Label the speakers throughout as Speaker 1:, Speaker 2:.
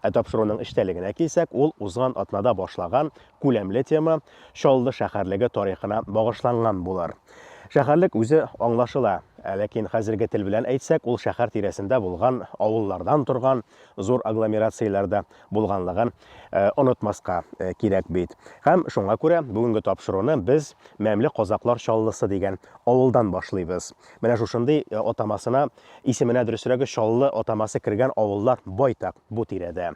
Speaker 1: Ә тапшыруның эчтәлегенә килсәк, ул узган атнада башлаган күләмле тема, Чаллы шәһәрлеге тарихына багышланган булыр. Шәһәрлек үзе аңлашыла, ә ләкин хәзерге тел белән әйтсәк, ул шәһәр тирәсендә булган авыллардан торган зур агломерацияләр дә булганлыгын онытмаска кирәк бит. Һәм шуңа күрә бүгенге тапшыруны без Мәмле казаклар Чаллысы дигән авылдан башлыйбыз. Менә шушындый атамасына Исеменә дөресрәге Чаллы атамасы кергән авыллар байтак бу тирәдә.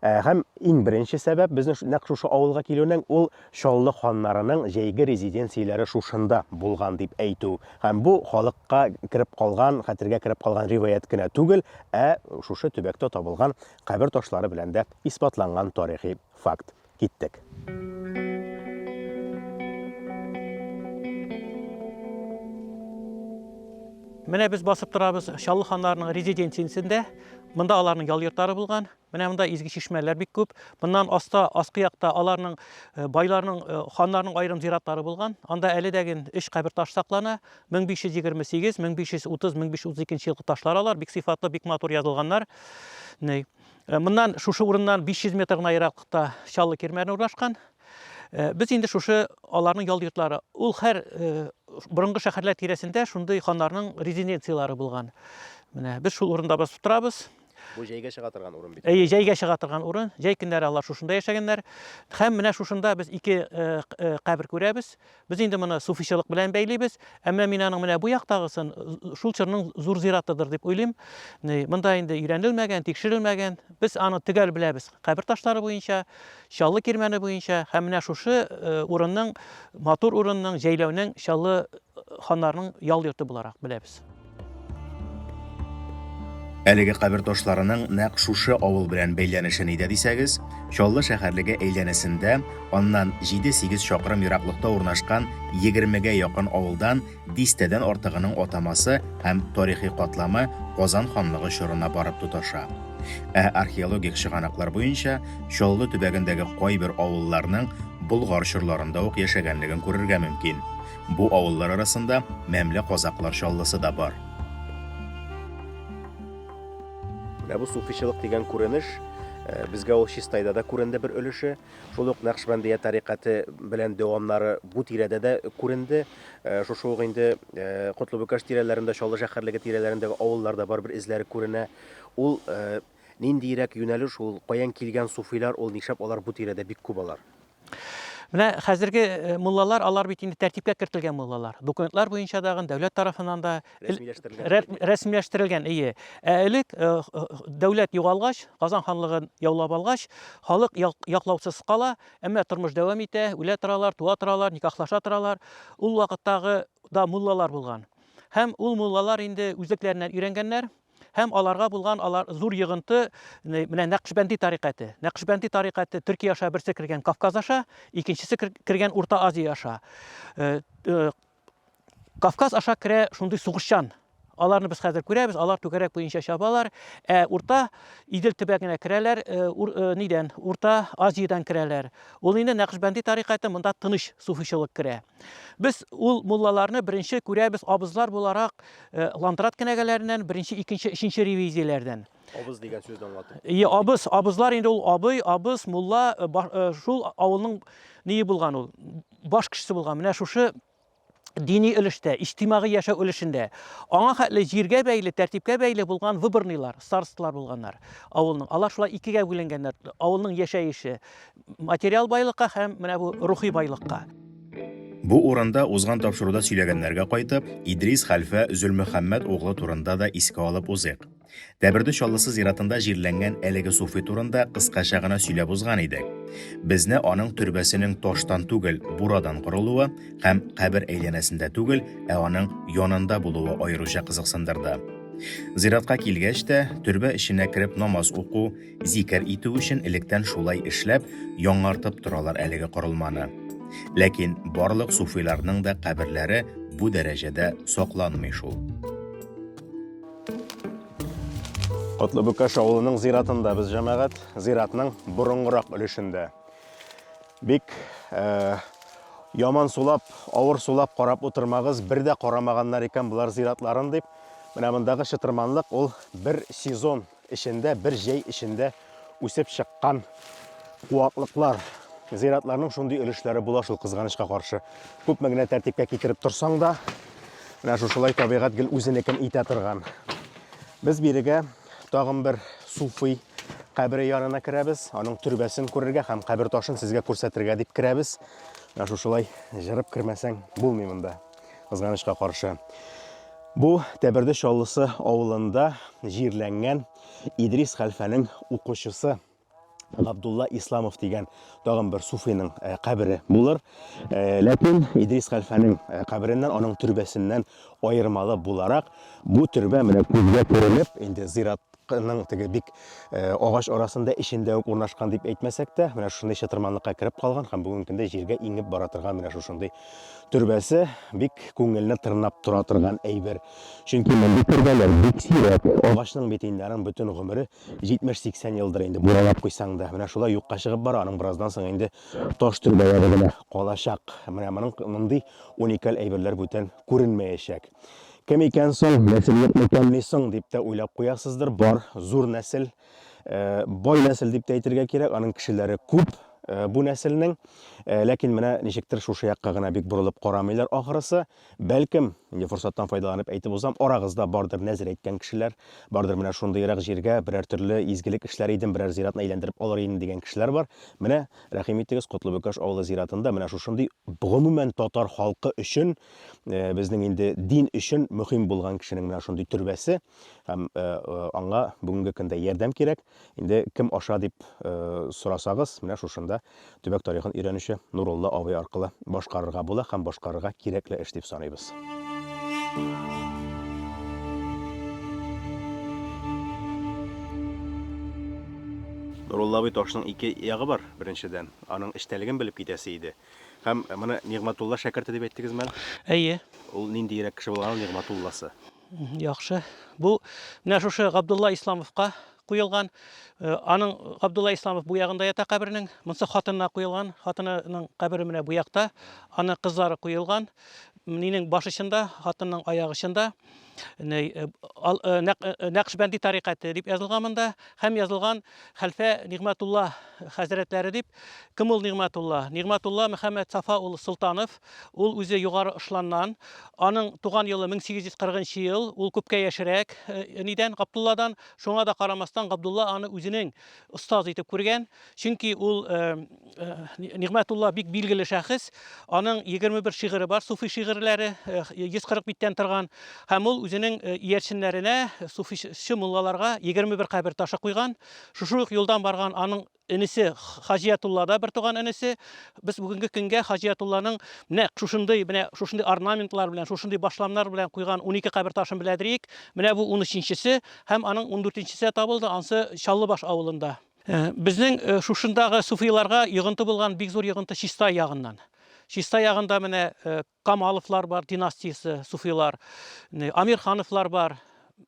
Speaker 1: Ә, һәм иң беренче сәбәп безнең нәкъ шушы авылга килүнең ул Чаллы ханнарының җәйге резиденцияләре шушында булган дип әйтү. Һәм бу халыкка кереп калган, хәтергә кереп калган риваять кенә түгел, ә шушы төбәктә табылган кабер ташлары белән дә исбатланган тарихи факт. киттек.
Speaker 2: Менә без басып торабыз Чаллы ханнарының резиденциясендә. Монда аларның ял йортлары булган. Менә монда изге чишмәләр бик күп. Моннан аста, аскы якта аларның э, байларның, э, ханнарның аерым зиратлары булган. Анда әле дә ген өч кабер таш саклана. 1528, 1530, 1532 елгы ташлар алар. Бик сыйфатлы, бик матур язылганнар. Ней. Э, моннан шушы урыннан 500 метр гына ераклыкта чаллы кирмәне урнашкан э, без инде шушы аларның ял йортлары ул һәр э, борынгы шәһәрләр тирәсендә шундый ханнарның резиденцияләре булган менә без шул урында басып торабыз бу җәйгә чыга
Speaker 1: торган урын бит әйе җәйгә чыга торган урын
Speaker 2: җәй көннәре алар шушында яшәгәннәр һәм менә шушында без ике кабер күрәбез Без инде моны суфичылык белән бәйлибез. Әмма мин аның менә бу яктагысын шул чорның зур зиратыдыр дип уйлыйм. Монда инде өйрәнелмәгән, тикшерелмәгән. Без аны төгәл беләбез кабер ташлары буенча, Чаллы кирмәне буенча һәм менә шушы урынның, матур урынның, җәйләүнең Чаллы ханнарының ял йорты буларак беләбез.
Speaker 3: Әлеге кабер ташларының нәкъ шушы авыл белән бәйләнеше нидә дисәгез, Чаллы шәһәрлеге әйләнәсендә, аннан 7-8 чакрым ераклыкта урнашкан 20гә якын авылдан дистәдән артыгының атамасы һәм тарихи катламы Казан ханлыгы чорына барып тоташа. Ә археологик чыганаклар буенча Чаллы төбәгендәге кайбер авылларның Болгар чорларында ук яшәгәнлеген күрергә мөмкин. Бу авыллар арасында Мәмле Казаклар Чаллысы да бар.
Speaker 1: Менә бу суфичылык дигән күренеш безгә ул Чистайда да күренде бер өлеше. Шул ук Нәкъшбәндия тарикаты белән дәвамнары бу тирәдә дә күренде. Шушы ук инде Котлыбүкәш тирәләрендә, Чаллы шәһәрлеге тирәләрендәге авылларда бар бер эзләре күренә. Ул ниндиерәк юнәлеш ул, каян килгән суфилар ул, нишләп алар бу тирәдә бик күп алар? Менә
Speaker 2: хәзерге э, муллалар, алар бит инде тәртипкә кертелгән муллалар. Документлар буенча дагы дәүләт тарафыннан да рәсмиләштерелгән. Ие. Ә элек э, э, дәүләт югалгач, Казан ханлыгын яулап алгач, халык яклаусыз кала, әмма тормыш дәвам итә, үлә торалар, туа торалар, никахлаша торалар. Ул вакыттагы да муллалар булган. Һәм ул муллалар инде үзлекләреннән өйрәнгәннәр, Һәм аларга булган алар зур йогынты менә Нәкъшбәнди тарикате. Нәкъшбәнди тарикате Төркия аша берсе кергән Кавказ аша, икенчесе кергән Урта Азия аша. Кавказ аша керә шундый сугышчан. Аларны без хәзер күрәбез, алар түгәрәк буенча чабалар. Ә Урта Идел төбәгенә керәләр, нидән? Урта Азиядән керәләр. Ул инде Нәкъшбәнди тарикаты, монда тыныч суфичылык керә. Без ул муллаларны беренче күрәбез абызлар буларак Э, лантрат кенәгәләреннән беренче икенче өченче ревизияләрдән абыз дигән сүзне
Speaker 1: аңлатып и абыз абызлар инде ул
Speaker 2: абый абыз мулла э, э, шул авылның ни булган ул баш кешесе булган менә шушы дини өлештә иҗтимагый яшәү өлешендә аңа хәтле җиргә бәйле тәртипкә бәйле булган выборныйлар старосталар булганнар авылның алар шулай икегә бүленгәннәр авылның яшәеше материал байлыкка һәм менә бу рухи байлыкка. Бу
Speaker 3: урында узган тапшыруда сөйләгәннәргә кайтып, Идрис хәлфә Зөлмөхәммәт углы турында да искә алып узыйк. Тәберде Чаллысы зиратында җирләнгән әлеге суфи турында кыскача гына сөйләп узган идек. Безне аның төрбәсенең таштан түгел, бурадан корылуы һәм кабер әйләнәсендә түгел, ә аның янында булуы аеруча кызыксындырды. Зиратка килгәч тә, төрбә эченә кереп намаз уку, Зикер итү өчен электән шулай эшләп, яңартып торалар әлеге корылманы. Ләкин барлык суфиларның да каберләре бу дәрәҗәдә сакланмый шул.
Speaker 1: Котлы Бөкәш авылының зиратында без җәмәгать, зиратның борынгырак өлешендә. Бик э, яман сулап, авыр сулап карап утырмагыз, бер дә карамаганнар икән болар зиратларын дип. Менә мондагы чытырманлык ул бер сезон Эчендә бер җәй эчендә үсеп чыккан куаклыклар, зыйратларның шундый өлешләре була шул кызганычка каршы. Күпме генә тәртипкә китереп торсаң да, менә шушылай табигать гел үзенекен итә торган. Без бирегә тагын бер суфый кабере янына керәбез, аның төрбәсен күрергә һәм кабер ташын сезгә күрсәтергә дип керәбез. Менә шушылай җырып кермәсәң булмый монда. Кызганычка каршы, бу Тәберде Чаллысы авылында җирләнгән Идрис хәлфәнең укучысы Габдулла Исламов дигән тагын бер суфиның э, кабере булыр. Э, ләкин Идрис хәлфәнең э, кабереннән, аның төрбәсеннән аермалы буларак, бу төрбә менә күзгә күренеп, инде зират Ның теге бик агач арасында эчендә үк урнашкан дип әйтмәсәк тә, менә шушындый чытырманлыкка кереп калган һәм бүгенге көндә җиргә иңеп бара торган менә шушындый төрбәсе бик күңелне тырнап тора торган әйбер. Чөнки мондый төрбәләр бик сирәк. Агачның бит инде аның бөтен гомере 70-80 елдыр инде, буралап куйсаң да. Менә шулай юкка чыгып бара, аның бераздан соң инде таш төрбәләре генә калачак. Менә моның мондый уникаль әйберләр бүтән күренмәячәк. Кем икән соң, нәсел юк микән ни соң, дип тә уйлап куясыздыр. Бар, зур нәсел, э, бай нәсел дип тә әйтергә кирәк, аның кешеләре күп э, бу нәселнең. Э, ләкин менә ничектер шушы якка гына бик борылып карамыйлар ахырысы. Бәлкем, инде форсаттан файдаланып әйтеп узам, арагызда бардыр нәзер әйткән кешеләр, бардыр менә шундыйрак җиргә берәр төрле изгелек эшләр идем, берәр зиратны әйләндереп алыр идем дигән кешеләр бар. Менә рәхим итегез, Котлыбөкәш авылы зиратында менә шушындый гомумән татар халкы өчен э, безнең инде дин өчен мөһим булган кешенең менә шундый төрбәсе һәм э, э, аңа бүгенге көндә ярдәм кирәк. Инде кем аша дип сорасагыз, менә шушында төбәк тарихын өйрәнүче Нурулла абый аркылы башкарырга була һәм башкарырга кирәкле эш дип саныйбыз. Нурулла абый ташның ике ягы бар, беренчедән, аның эчтәлеген белеп китәсе иде. Һәм моны Нигъмәтулла шәкерте дип әйттегезме әле? Әйе. Ул
Speaker 2: ниндиерәк
Speaker 1: кеше булган ул Нигъмәтулласы? Яхшы.
Speaker 2: Бу менә шушы Габдулла Исламовка куелган. Э, аның Габдулла Исламов бу ягында ята кабернең. Монсы хатынына куелган. Хатынының кабере менә бу якта. Аны кызлары куелган. Минең баш очында, хатынның аяк очында Нәкъшбәнди тарикате дип язылган монда һәм язылган хәлфә Нигъмәтулла хәзрәтләре дип. Кем ул Нигъмәтулла? Нигъмәтулла Мөхәммәд Сафа улы Солтанов. Ул үзе Югары Ошланнан. Аның туган елы 1840 ел. Ул күпкә яшерәк нидән, Габдулладан. Шуңа да карамастан, Габдулла аны үзенең остаз итеп күргән. Чөнки ул Нигъмәтулла бик билгеле шәхес. Аның 21 шигыре бар, суфи шигырьләре, 140 биттән торган. Һәм ул үзенең иярченнәренә, суфичы муллаларга 21 кабер ташы куйган. Шушы ук юлдан барган аның энесе Хаҗиятулла да бер туган энесе. Без бүгенге көнгә Хаҗиятулланың менә шушындый, менә шушындый орнаментлар белән, шушындый башламнар белән куйган 12 кабер ташын беләдриек. Менә бу 13-нчесе һәм аның 14-нчесе табылды, ансы Чаллыбаш авылында. Безнең шушындагы суфыйларга йогынты булган бик зур йогынты Чистай ягыннан. Чистай ягында менә Камаловлар бар, династиясе, суфыйлар, Амирхановлар бар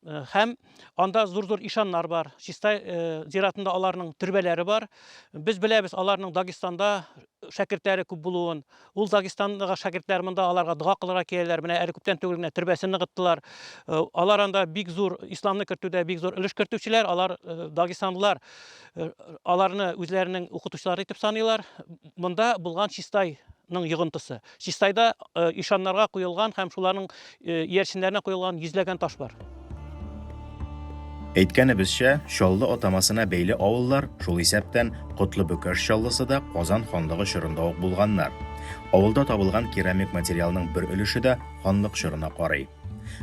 Speaker 2: һәм анда зур-зур ишаннар бар. Чистай зиратында аларның төрбәләре бар. Без беләбез, аларның Дагестанда шәкертләре күп булуын, ул Дагестанга шәкертләр монда аларга дога кылырга киләләр, менә әле күптән түгел генә төрбәсен ныгыттылар. Алар анда бик зур исламны кертүдә бик зур өлеш кертүчеләр, алар дагестанлылар аларны үзләренең укытучылары итеп саныйлар. Монда булган Чистай ның йогынтысы. Чистайда ишаннарга куелган һәм шуларның иярченнәренә куелган йөзләгән таш бар.
Speaker 3: Әйткәнебезчә, Чаллы атамасына бәйле авыллар, шул исәптән Котлы-Бөкәш Чаллысы да Казан ханлыгы чорында ук булганнар. Авылда табылган керамик материалның бер өлеше дә ханлык чорына карый.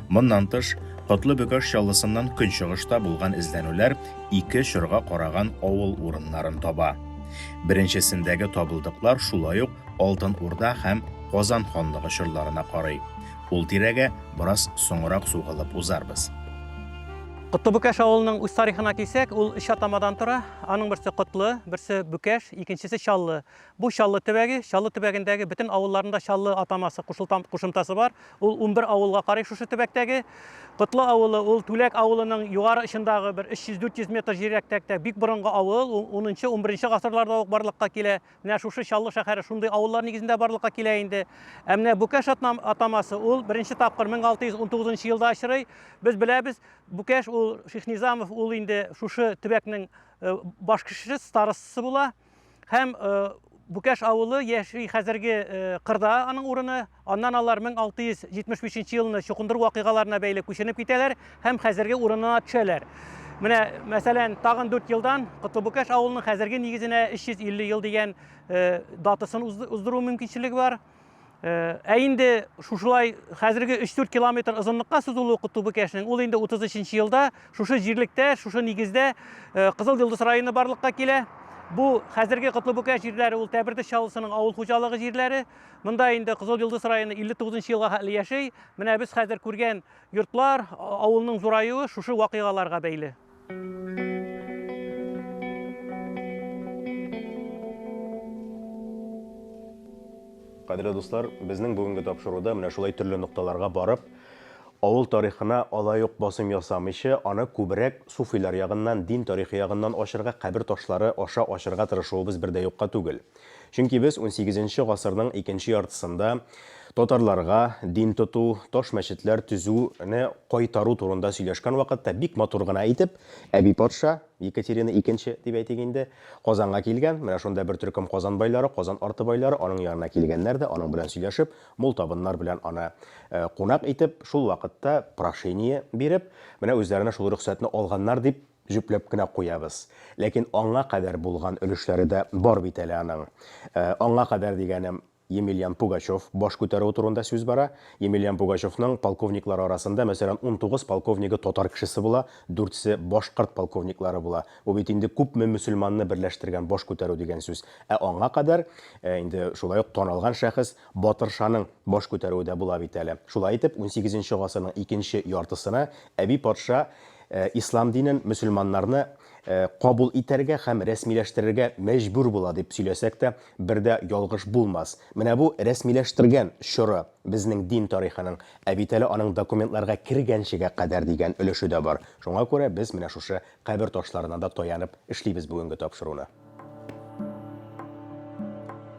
Speaker 3: Моннан тыш, Котлы Бөкаш Чаллысыннан көнчыгышта булган эзләнүләр ике чорга караган авыл урыннарын таба. Беренчесендәге табылдыклар шулай ук Алтын Урда һәм Казан ханлыгы чорларына карый. Ул тирәгә бераз соңрак сугылып узарбыз. Котлы
Speaker 2: Бөкаш авылының үз тарихына килсәк, ул өч атамадан тора. Аның берсе Котлы, берсе Бөкаш, икенчесе Чаллы. Бу Чаллы төбәге, Чаллы төбәгендәге бөтен авылларында Чаллы атамасы кушылтам кушымтасы бар. Ул унбер авылга карый шушы төбәктәге. Котлы авылы ул Түләк авылының югары очындагы бер 300-400 метр җиррәктәктә бик борынгы авыл, ул унынчы, унберенче гасырларда ук барлыкка килә. Менә шушы Чаллы шәһәре шундый авыллар нигезендә барлыкка килә инде. Ә менә Бүкәш атнам атамасы ул беренче тапкыр 1619 елда очрый. Без беләбез, Бүкәш ул Шихнизамов ул инде шушы төбәкнең баш кешесе, старостасы була. Һәм Бүкәш авылы яши хәзерге кырда аның урыны. Аннан алар 1675 елны чукындыру вакыйгаларына бәйле күченеп китәләр һәм хәзерге урынына төшәләр. Менә, мәсәлән, тагын 4 елдан Котлыбүкәш авылының хәзерге нигезенә 350 ел дигән датасын уздыру мөмкинчелеге бар. Э, ә инде шушылай хәзерге 3-4 километр озынлыкка сузылу укыту бу кәшнең ул инде 33 елда шушы җирлектә шушы нигездә э, кызыл йолдыз районы барлыкка килә бу хәзерге котлыбүкә җирләре ул тәбердеш чаллысының авыл хуҗалыгы җирләре монда инде кызыл йолдыз районы 59 елга хәтле яши менә без хәзер күргән йортлар авылның зураюы шушы вакыйгаларга бәйле
Speaker 1: Кадерле дуслар, безнең бүгенге тапшыруда менә шулай төрле нокталарга барып, авыл тарихына алай ук басым ясамыйча, аны күбрәк суфилар ягыннан, дин тарихы ягыннан ачырга, кабер ташлары аша ачырга тырышуыбыз бер дә юкка түгел. Чөнки без унсигезенче гасырның икенче яртысында татарларга дин тоту, таш мәчетләр төзүне кайтару турында сөйләшкән вакытта бик матур гына итеп, әби патша, Екатерина икенче дип әйтик инде, Казанга килгән, менә шунда бер төркем Казан байлары, Казан арты байлары аның янына килгәннәр дә, аның белән сөйләшеп, мул табыннар белән аны кунак итеп, шул вакытта прошение биреп, менә үзләренә шул рөхсәтне алганнар дип җөпләп кенә куябыз. Ләкин аңа кадәр булган өлешләре дә бар бит әле аның. Аңа кадәр дигәнем, Емельян Пугачев баш күтәрүе турында сүз бара. Емельян Пугачевның полковниклары арасында, мәсәлән, унтугыз полковнигы татар кешесе була, дүртсе башкорт полковниклары була. Бу бит инде күпме мөселманны берләштергән баш күтәрү дигән сүз. Ә аңа кадәр, инде шулай ук таналган шәхес, Батыршаның баш күтәрүе дә була бит әле. Шулай итеп, унсигезенче гасырның икенче яртысына Әби патша ислам динен, мөселманнарны кабул итәргә һәм рәсмиләштерергә мәҗбүр була, дип сөйләсәк тә, бер дә ялгыш булмас. Менә бу рәсмиләштергән чоры безнең дин тарихының, ә бит әле аның документларга кергәнчегә кадәр дигән өлеше дә бар. Шуңа күрә без менә шушы Кабер ташларына да таянып эшлибез бүгенге тапшыруны.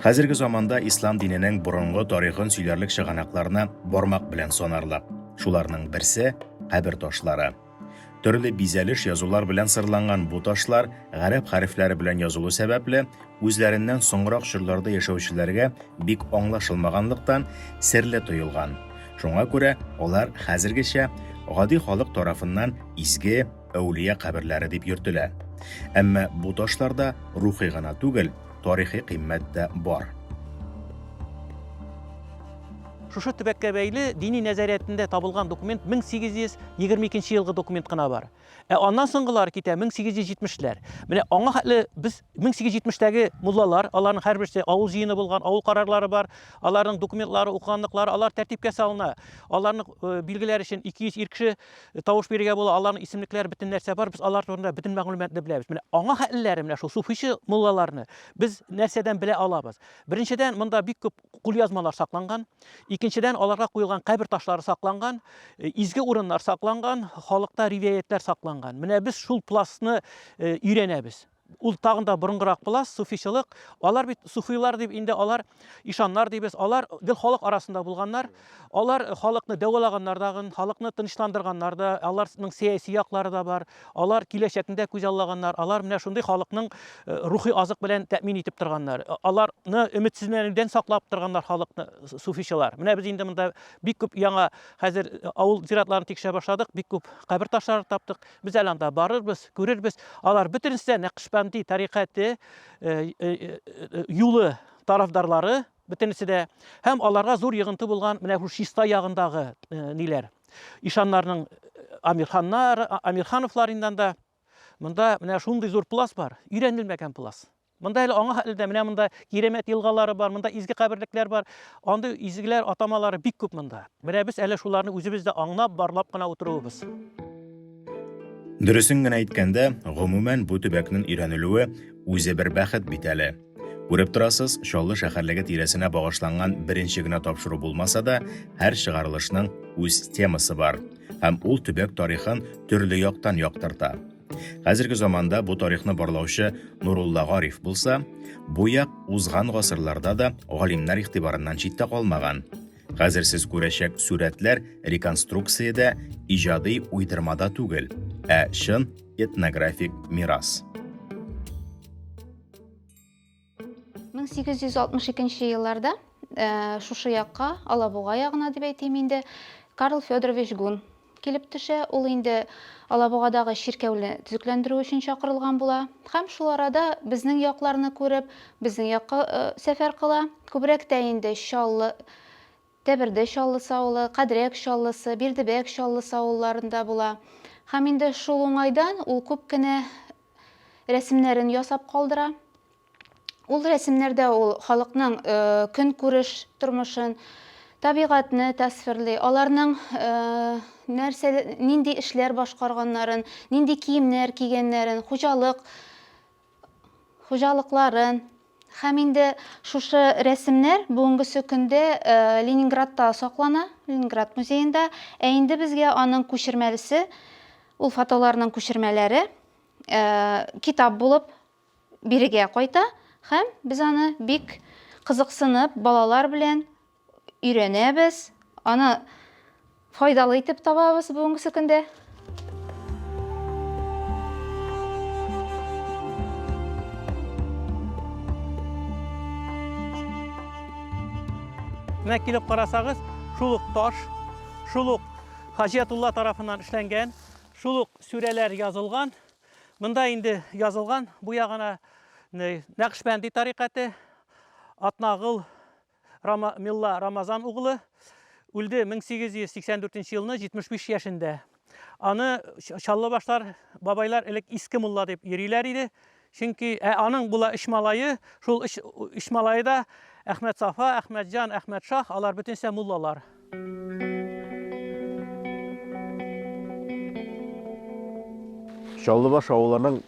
Speaker 3: Хәзерге заманда ислам диненең борынгы тарихын сөйләрлек чыганакларны бармак белән санарлык. Шуларның берсе, кабер ташлары. Төрле бизәлеш язулар белән сырланган бу ташлар гарәп хәрефләре белән язылу сәбәпле, үзләреннән соңрак чорларда яшәүчеләргә бик аңлашылмаганлыктан, серле тоелган. Шуңа күрә алар хәзергечә гади халык тарафыннан изге, әүлия каберләре дип йөртелә. Әмма бу ташларда рухи гына түгел, тарихи кыйммәт тә бар.
Speaker 2: Шушы төбәккә бәйле дини нәзариятендә табылган документ 1822 елгы документ кына бар. Ә аннан соңгылар китә 1870-ләр. Менә аңа хәтле без 1870-тәге муллалар, аларның һәрберсе авыл җыены булган, авыл карарлары бар, аларның документлары, укыганлыклары, алар тәртипкә салына. Аларның э, билгеләр өчен 200 ир кеше Тавыш бирергә була, аларның исемлекләре, бөтен нәрсә бар, без алар турында бөтен мәгълүматны беләбез. Менә аңа хәтлеләре менә шул суфичы муллаларны без нәрсәдән белә алабыз? Беренчедән, монда бик күп кулъязмалар сакланган. Икенчедән, аларга куелган кабер ташлары сакланган, э, изге урыннар сакланган, халыкта ривәятләр сакланган. Менә без шул пластны э, өйрәнәбез. Ул тагын да борынгырак була, суфичылык. Алар бит суфилар дип инде алар ишаннар дибез. Алар гел халык арасында булганнар. Алар халыкны дәвалаганнар да, халыкны тынычландырганнар да. Аларның сәяси яклары да бар. Алар киләчәкне дә күзаллаганнар. Алар менә шундый халыкның рухи азык белән тәэмин итеп торганнар. Аларны өметсезләнүдән саклап торганнар халыкны суфичылар. Менә без инде монда бик күп яңа хәзер авыл зиратларын тикшерә башладык, бик күп кабер ташларын таптык. Без әле анда барырбыз, күрербез. Алар бөтенесе дә Нәкъшбанди тарикате, юлы тарафдарлары, бөтенесе дә. Һәм аларга зур йогынты булган менә шул чиста ягындагы ниләр, ишаннарның Амирханнар, Амирхановларыннан да. Монда менә шундый зур плац бар, өйрәнелмәгән плац. Монда әле аңа хәтле дә менә монда Киремәт елгалары бар, монда изге каберлекләр бар. Андый изгеләр атамалары бик күп монда. Менә без әле шуларны үзебез дә аңлап, барлап кына утыруыбыз.
Speaker 3: Дөресен генә әйткәндә, гомумән бу төбәкнең өйрәнелүе үзе бер бәхет бит әле. Күреп торасыз, Чаллы шәһәрлеге тирәсенә багышланган беренче генә тапшыру булмаса да, һәр чыгарылышның үз темасы бар һәм ул төбәк тарихын төрле яктан яктырта. Хәзерге заманда бу тарихны барлаучы Нурулла Гариф булса, бу як узган гасырларда да галимнәр игътибарыннан читтә калмаган. Хәзер сез күрәчәк сурәтләр реконструкциядә, иҗади уйдырмада түгел, ә чын этнографик мирас.
Speaker 4: 1862 елларда э, шушы якка, Алабуга ягына дип әйтим инде, Карл Федорович Гун килеп төшә. Ул инде Алабугадагы чиркәүне төзекләндерү өчен чакырылган була. Һәм шул арада безнең якларны күреп, безнең якка э, сәфәр кыла. Күбрәк тә инде Чаллы, Тәберде Чаллы савылы, Кадрәк Чаллысы, Бирдебәк Чаллысы авылларында була. Һәм инде шул уңайдан ул күп кенә рәсемнәрен ясап калдыра. Ул рәсемнәрдә ул халыкның э, көнкүреш тормышын, табигатьне тасвирли, аларның э, нәрсә, нинди эшләр башкарганнарын, нинди киемнәр кигәннәрен, хуҗалык, хуҗалыкларын, Һәм инде шушы рәсемнәр бүгенгесе көндә Ленинградта саклана, Ленинград музеенда. Ә инде безгә аның күчермәлесе, ул фотоларның күчермәләре китап булып бирегә кайта һәм без аны бик кызыксынып балалар белән өйрәнәбез, аны файдалы итеп табабыз бүгенге көндә.
Speaker 2: Менә килеп карасагыз, шул ук таш, шул ук Хаҗиятулла тарафыннан эшләнгән, шул ук сүрәләр язылган. Монда инде язылган бу ягына Нәкъшбәнди тарикаты, Атнагыл Рама, Милла Рамазан углы үлде 1884 нче елны 75 яшендә. Аны Чаллы башлар бабайлар элек иске мулла дип йөриләр иде. Чөнки ә аның була өч малае, шул өч, өч малае да Әхмәт Сафа, Әхмәт Җан, Әхмәт Шах, алар бөтенесе муллалар.
Speaker 1: Чаллыбаш авылының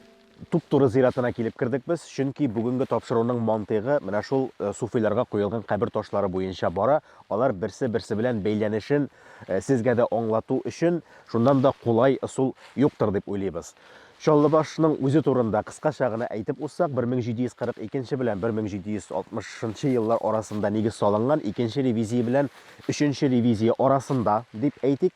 Speaker 1: Туп-туры зиратына килеп кердек без, чөнки бүгенге тапшыруның мантыйгы менә шул э, суфиларга куелган кабер ташлары буенча бара. Алар берсе-берсе белән бәйләнешен э, сезгә дә аңлату өчен шуннан да кулай ысул юктыр дип уйлыйбыз. Чаллыбашның үзе турында кыскача гына әйтеп узсак, 1742 белән 1760 еллар арасында нигез салынган, икенче ревизия белән өченче ревизия арасында дип әйтик.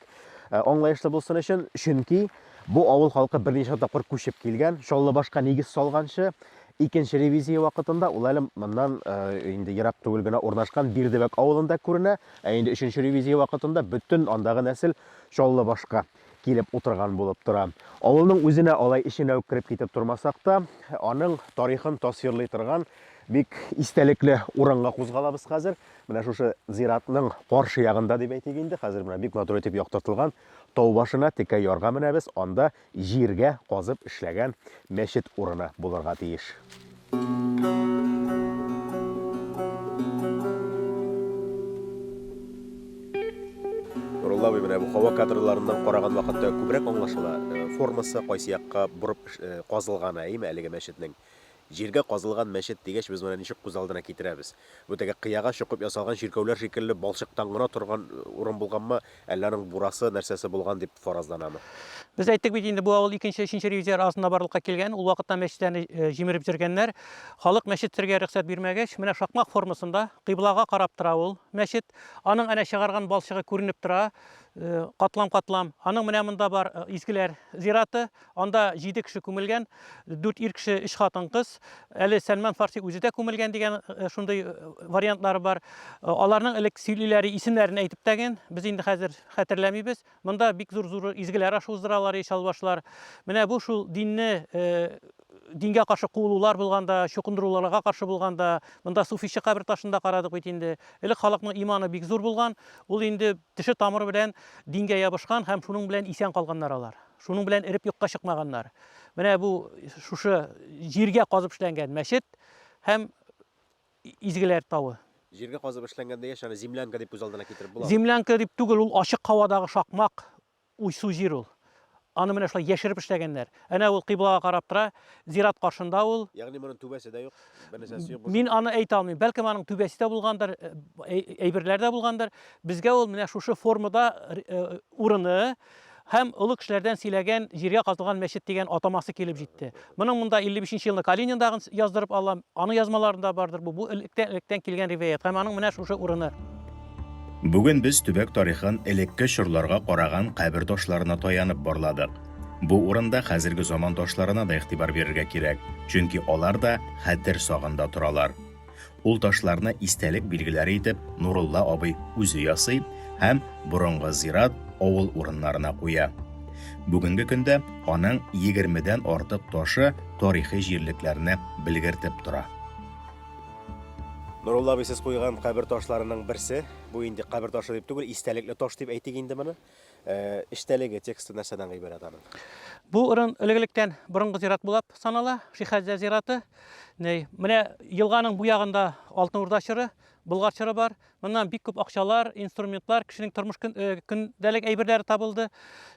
Speaker 1: Ә, аңлаешлы булсын өчен, чөнки бу авыл халкы берничә тапкыр күчеп килгән, Чаллыбашка нигез салганчы, икенче ревизия вакытында ул әле моннан ә, инде ерак түгел генә урнашкан Бирдебәк авылында күренә, ә инде өченче ревизия вакытында бөтен андагы нәсел Чаллыбашка килеп утырган булып тора. Авылның үзенә алай эченә үк кереп китеп тормасак та, аның тарихын тасвирлый торган бик истәлекле урынга кузгалабыз хәзер. Менә шушы зиратның каршы ягында дип әйтик инде, хәзер менә бик матур итеп яктыртылган тау башына текә ярга менәбез, анда җиргә казып эшләгән мәчет урыны булырга тиеш. Нурулла абый менә бу һава кадрларыннан караган вакытта күбрәк аңлашыла, э, формасы кайсы якка борып э, казылганы, әйеме, әлеге мәчетнең. Җиргә казылган мәчет дигәч, без моны ничек күз алдына китерәбез? Бу теге кыяга чокып ясалган чиркәүләр шикелле балчыктан гына торган урын булганмы, әллә аның бурасы, нәрсәсе булган дип фаразланамы? Без әйттек бит
Speaker 2: инде, бу авыл икенче, өченче ревизияләр арасында барлыкка килгән. Ул вакытта мәчетләрне җимереп җөргәннәр. Халык мәчет төрергә рөхсәт бирмәгәч, менә шакмак формасында, кыйблага карап тора ул мәчет. Аның әнә чыгарган балчыгы күренеп тора, катлам-катлам. Аның менә монда бар, изгеләр зираты, Анда җиде кеше күмелгән, дүрт ир кеше, өч хатын-кыз. Әле Сәлман Фарси үзе дә күмелгән дигән шундый вариантлар бар. Аларның элек сөйлиләре, исемнәрен әйтеп тәген, без инде хәзер хәтерләмибез. Монда бик зур-зур изгеләр ашы уздыралар ечалбашлар. Менә бу шул динне дингә каршы куылулар булганда, чукындыруларга каршы булганда, монда суфичы кабер ташын да карадык бит инде. Элек халыкның иманы бик зур булган, ул инде теше тамыры белән дингә ябышкан һәм шуның белән исән калганнар алар. Шуның белән эреп юкка чыкмаганнар. Менә бу шушы җиргә казып эшләнгән мәчет һәм Изгеләр тавы. Җиргә казып эшләнгән
Speaker 1: дигәч, аны землянка дип күз алдына китереп буламы?
Speaker 2: Землянка
Speaker 1: дип
Speaker 2: түгел, ул ачык һавадагы шакмак
Speaker 1: уйсу
Speaker 2: җир ул. Аны менә шулай яшереп эшләгәннәр. Әнә ул кыйблага карап тора, зират каршында ул. Ягъни моның түбәсе дә юк,
Speaker 1: бернәрсәсе юк. Мин аны әйтә алмыйм. Бәлкем
Speaker 2: аның түбәсе дә булгандыр, әйберләр дә булгандыр. Безгә ул менә шушы формада урыны, Һәм олы кешеләрдән сөйләгән җиргә казылган мәчет дигән атамасы килеп җитте. Моның монда 55 нче елны Калининдагын яздырып алам. Аның язмаларында бардыр бу. Бу электән электән килгән риваять һәм аның менә шушы урыны. Бүген
Speaker 3: без төбәк тарихын элекке чорларга караган кабер ташларына таянып барладык. Бу урында хәзерге заман ташларына да игътибар бирергә кирәк, чөнки алар да хәтер сагында торалар. Ул ташларны истәлек билгеләре итеп Нурулла абый үзе ясый һәм борынгы зират, авыл урыннарына куя. Бүгенге көндә аның егермедән артык ташы тарихи җирлекләрне белгертеп тора.
Speaker 1: Нурулла абый, сез куйган кабер ташларының берсе, бу инде кабер ташы дип түгел, истәлекле таш дип әйтик инде моны. Ә, эчтәлеге, тексты нәрсәдән гыйбарәт аның? Бу урын
Speaker 2: элек-электән борынгы зират булып санала, Шихәзә зираты. Ней, менә елганың бу ягында Алтын Урда чоры, Болгар чоры бар. Моннан бик күп акчалар, инструментлар, кешенең тормыш көн, э, көндәлек әйберләре табылды.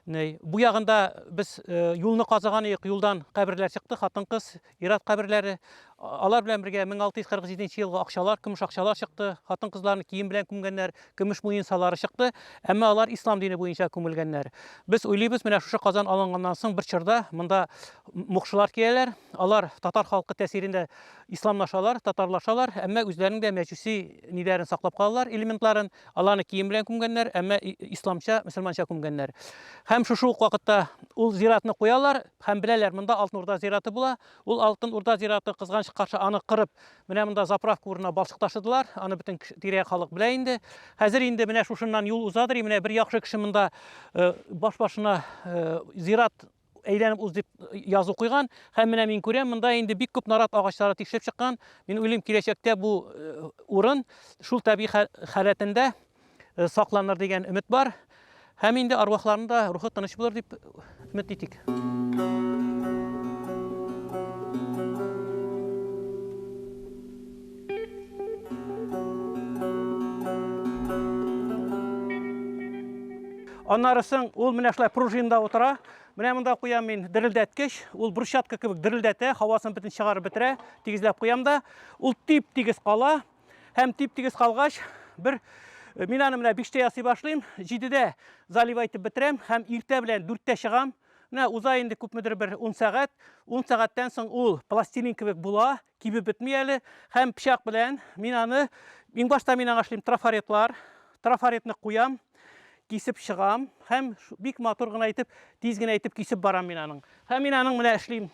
Speaker 2: Ней, бу ягында без э, юлны казыган идек, юлдан каберләр чыкты, хатын-кыз, Ират каберләре, алар белән бергә 1647 елгы акчалар, көмеш акчалар чыкты, хатын-кызларны кием белән күмгәннәр, көмеш муенсалары чыкты, әмма алар ислам дине буенча күмелгәннәр. Без уйлыйбыз, менә шушы Казан алынганнан соң бер чорда монда мукшылар киләләр, алар татар халкы тәсирендә исламлашалар, татарлашалар, әмма үзләренең дә мәҗүси ниләрен саклап калалар, элементларын, аларны кием белән күмгәннәр, әмма исламча, мөселманча күмгәннәр. Һәм шушы ук вакытта ул зиратны куялар, Һәм беләләр, монда Алтын Урда зираты була. Ул Алтын Урда зираты, кызганыч каршы, аны кырып, менә монда заправка урынына балчык ташыдылар. Аны бөтен тирә-як халык белә инде. Хәзер инде менә шушыннан юл узадыр, и менә бер яхшы кеше монда э, баш-башына э, зират әйләнеп уз дип язу куйган һәм менә мин күрәм монда инде бик күп нарат агачлары тишелеп чыккан мин уйлыйм киләчәктә бу э, урын шул табигый халәтендә э, сакланыр дигән өмет бар. Һәм инде арвахларның да рухы тыныч булыр дип өмет итик. Аннарысын ул менә шулай пружинда утыра. Менә монда куям мин дерелдәткеч. Ул брусчатка кебек дерелдәтә, һавасын бөтен чыгарып бетерә. Тигезләп куям да. Ул тип-тигез кала. һәм тип-тигез калгач, бер э, мин аны менә 5 ясый башлыйм, 7 залива итеп бетерәм һәм иртә белән 4 чыгам. Менә уза инде күпмедер бер 10 сәгать, 10 сәгатьтән соң ул пластилин кебек була, кибеп бетми әле һәм пычак белән мин аны иң башта мин аңа эшлим трафаретлар, трафаретны куям, кисеп чыгам һәм бик матур гына итеп, тиз генә итеп кисеп барам мин аның. Һәм мин аның менә эшлим.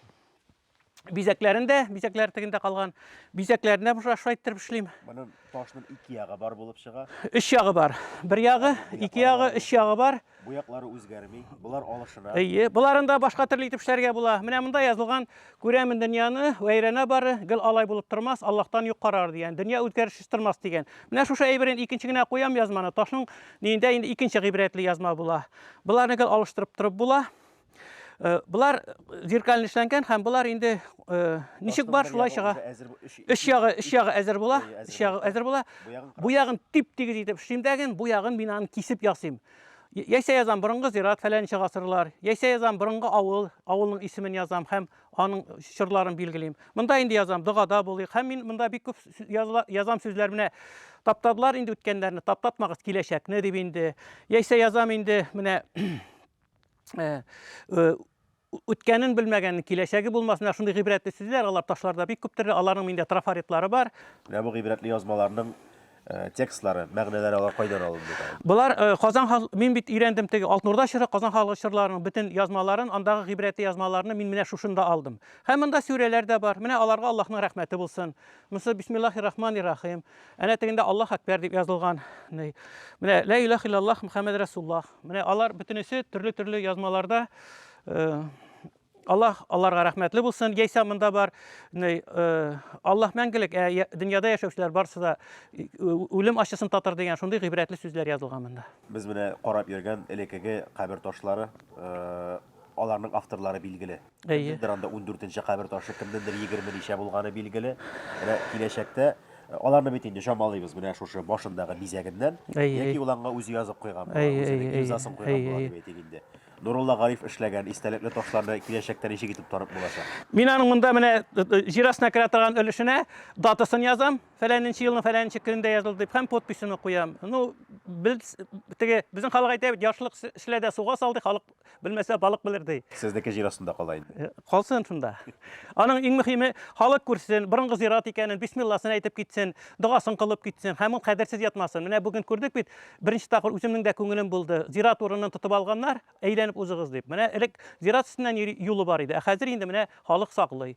Speaker 2: бизәкләрен дә, бизәкләр тегендә калган, бизәкләрен дә шулай иттереп эшлим. Моның ташның
Speaker 1: ике ягы бар булып чыга. Өч ягы бар.
Speaker 2: Бер ягы, ике ягы, өч ягы бар. Бу яклары үзгәрми.
Speaker 1: Булар алышына. Әйе, буларын да башка
Speaker 2: төрле итеп эшләргә була. Менә монда язылган, күрәмен дөньяны, вәйрәнә бары, гел алай булып тормас, Аллаһтан юк карар дигән. Дөнья үзгәрешсез тормас дигән. Менә шушы әйберен икенче генә куям язманы. Ташның ниендә инде икенче гыйбрәтле язма була. Буларны гел алыштырып торып була. Э, Булар зеркален эшләнгән һәм булар инде э, ничек бар шулай чыга. Өч ягы, өч ягы әзер була, өч ягы әзер була. Бу ягын тип тигез итеп эшлим дәген, бу ягын мин аны кисеп ясыйм. Яйсә язам борынгы зират фәләнче гасырлар, яйсә язам борынгы авыл, авылның исемен язам һәм аның чорларын билгелим. Монда инде язам догада булыйк һәм мин монда бик күп язам сүзләр менә таптадылар инде үткәннәрне, таптатмагыз киләчәкне дип инде. Яйсә язам инде менә э, э, үткәнен белмәгән, киләчәге булмасына шундый гыйбрәтле сүзләр, алар ташларда бик күптер, аларның миндә трафаретлары бар. Менә бу гыйбрәтле
Speaker 1: язмаларның э, текстлары, мәгънәләре алар кайдан алынды? Болар э, Казан
Speaker 2: хал... мин бит өйрәндем теге Алтнурда чоры Казан халык чорларының бөтен язмаларын, андагы гыйбрәтле язмаларны мин менә шушында алдым. Һәм монда сүрәләр дә бар. Менә аларга Аллаһның рәхмәте булсын. Монысы бисмиллахи рахмани рахим. Әнә тегендә Аллаһ әкбәр дип язылган. Менә лә илаһ иллаллаһ Мөхәммәд Расуллаһ. Менә алар бөтенесе төрле-төрле язмаларда э, Аллаһ аларга рәхмәтле булсын. Яисә монда бар э, Аллаһ мәңгелек, ә дөньяда яшәүчеләр барысы да э, үлем ачысын татыр дигән шундый гыйбрәтле сүзләр язылган монда. Без менә карап
Speaker 1: йөргән элеккеге кабер ташлары, аларның авторлары билгеле. Әйе. Кемнеңдер анда 14 кабер ташы, кемнеңдер 20 ничә булганы билгеле. Менә киләчәктә э, аларны бит инде чамалыйбыз менә шушы башындагы бизәгеннән. Әйе, яки әйе. ул аңа үзе язып куйган була, Әйе, үзенең әйе, әйе. имзасын куйган Әйе, була әйе. дип әйтик инде. Нурулла Гариф эшләгән истәлекле ташларны киләчәктә ничек итеп танып булачак? Мин аның монда менә э,
Speaker 2: э, җир астына керә торган өлешенә датасын язам, фәләненче елның фәләненче көнендә язылды дип һәм подписьны куям. Ну, без теге безнең халык әйтә бит, яшьлек с- эшлә дә суга сал ди, халык Белмәсә, балык белер ди. Сезнеке җир астында кала
Speaker 1: инде. Э, калсын шунда.
Speaker 2: Аның иң мөһиме, халык күрсен, борынгы зират икәнен, бисмилласын әйтеп китсен, догасын кылып китсен һәм ул кадерсез ятмасын. Менә бүген күрдек бит, беренче тапкыр үземнең дә күңелем булды. Зират урынын тотып алганнар, әйләнеп узыгыз дип. Менә элек зират өстеннән юлы бар иде, ә хәзер инде менә халык саклый.